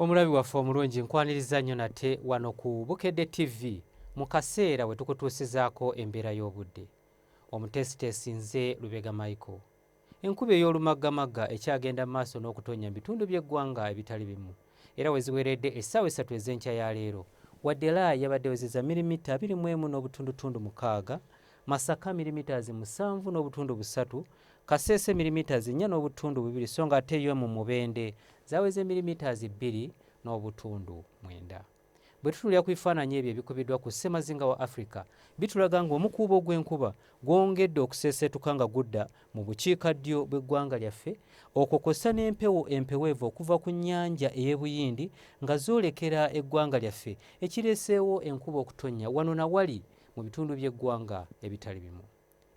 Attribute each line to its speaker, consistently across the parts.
Speaker 1: Omulabi waffe omulungi nkwanirizza nnyo nate wano ku Bukedde TV mu kaseera we tukutuusizaako embeera y'obudde. Omuteesiteesi nze Lubega Michael. Enkuba ey'olumaggamagga ekyagenda mu maaso n'okutonnya mu bitundu by'eggwanga ebitali bimu era we ziweredde essaawa essatu ez'enkya ya leero. Wadde la yabadde ewezezza mirimita abiri mu emu n'obutundutundu mukaaga, Masaka milimiters musanvu n'obutundu busatu, Kasese milimiters nnya n'obutundu bubiri so nga ate yo mu Mubende zaweze milimiters bbiri n'obutundu mwenda. Bwe tutuulira ku bifaananyi ebyo ebikubiddwa ku ssemazinga wa Afrika bitulaga ng'omukuubo gw'enkuba gwongedde okuseeseetuka nga gudda mu bukiika ddyo bw'eggwanga lyaffe okwo kw'ossa n'empewo empeweevu okuva ku nnyanja ey'e Buyindi nga zoolekera eggwanga lyaffe ekireeseewo enkuba okutonnya wano na wali mu bitundu by'eggwanga ebitali bimu.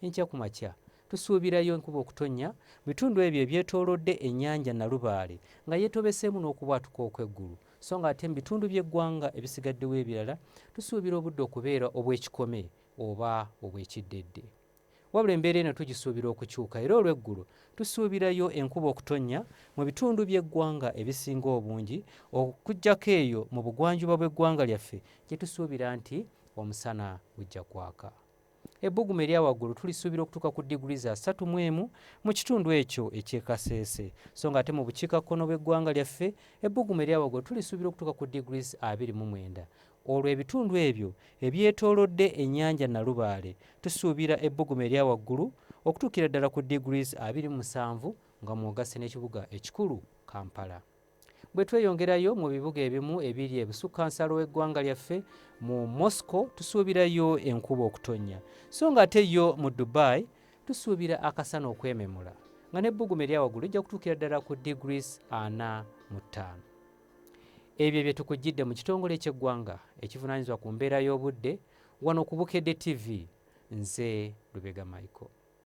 Speaker 1: Enkya ku makya tusuubirayo enkuba okutonnya mu bitundu ebyo ebyetoolodde ennyanja Nalubaale nga yeetobeseemu n'okubwatuka okw'eggulu so nga ate mu bitundu by'eggwanga ebisigaddewo ebirala tusuubira obudde okubeera obw'ekikome oba obw'ekiddedde. Wabula embeera eno tugisuubira okukyuka era olw'eggulo tusuubirayo enkuba okutonnya mu bitundu by'eggwanga ebisinga obungi okuggyako eyo mu bugwanjuba bw'eggwanga lyaffe gye tusuubira nti omusana gujja kwaka. Ebbugumu erya waggulu tulisuubira okutuuka ku diguli za ssatu mu emu mu kitundu ekyo eky'e Kasese so ng'ate mu bukiikakkono bw'eggwanga lyaffe ebbugumu erya waggulu tulisuubira okutuuka ku diguli abiri mu mwenda Olwo ebitundu ebyo ebyetoolodde ennyanja Nalubaale tusuubira ebbugumu erya waggulu okutuukira ddala ku degrees abiri mu musanvu nga mw'ogasse n'ekibuga ekikulu Kampala. Bwe tweyongerayo mu bibuga ebimu ebiri ebusukkansalo w'eggwanga lyaffe mu Moscow tusuubirayo enkuba okutonnya so ng'ate yo mu Dubai tusuubira akasana okwememula nga n'ebbugumu erya waggulu lijja kutuukira ddala ku degrees ana mu ttaano. Ebyo bye tukujjidde mu kitongole ky'eggwanga ekivunaanyizibwa ku mbeera y'obudde wano ku Bukedde TV. Nze Lubega Michael.